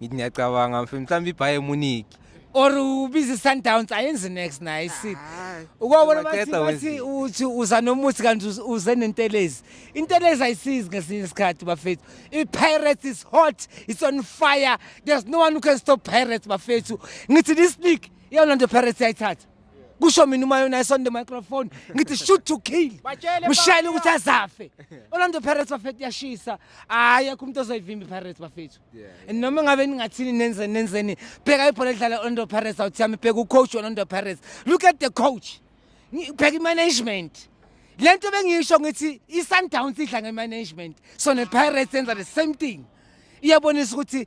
ngithi ngiyacabanga mfethu mhlawumbe iBayern Munich or ubize Sundowns ayenze next naye isile ukwabona bathi Maqeda bathi wenziwe. uthi uza nomuthi kanti uz- uze nentelezi intelezi ayisizi ngesinye isikhathi bafethu i-pirates is hot it's on fire there's no one who can stop pirates bafethu ngithi this league iyona nto pirates yayithatha kusho mina uma yona isonde microphone ngithi shoot to kill mshayele ukuthi azafe Orlando Pirates bafethu yashisa hayi akho umuntu ozoyivimba Pirates bafethu and noma ngabe ningathini nenze nenzeni bheka ibhola edlala Orlando Pirates awuthi yami bheka ucoach Orlando Pirates look at the coach bheka imanagement lento bengiyisho ngithi iSundowns idla ngemanagement so nePirates yenza the same thing iyabonisa ukuthi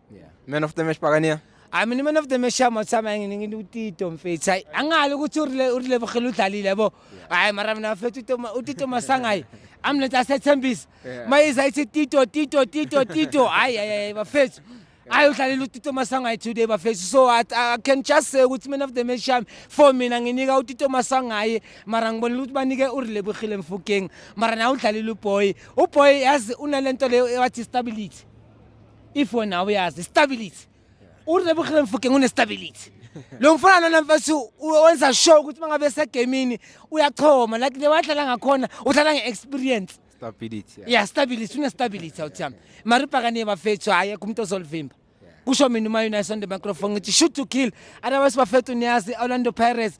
Yeah. Man of the match Pakania. I mean man of the match ama tsama ngini ngini utito mfethu. Hayi angali ukuthi urile urile bogela udlalile yabo. Hayi mara mina mfethu utito utito masangayi. Amlethe asethembisa. Yeah. Mayiza ithi tito tito tito tito. Hayi hayi hayi bafethu. Hayi udlalile utito masangayi today bafethu. So I, I can just say ukuthi man of the match yami for mina nginika utito masangayi mara ngibona ukuthi banike urile bogela mfukeng. Mara na udlalile uboy. Uboy yazi unalento leyo ewathi stability. if wena uyazi stability urebuhle mfukeng unestability lo mfana lona mfethu wenza sure ukuthi mangabe esegamini uyachoma like le wadlala ngakhona udlala nge-experience stability ya stability unestability awuthami maripakane bafethu hhayi ekho umuntu ozolivimba kusho mina uma unison the microphone ngithi shoot to kill otherwise bafethu niyazi orlando pirates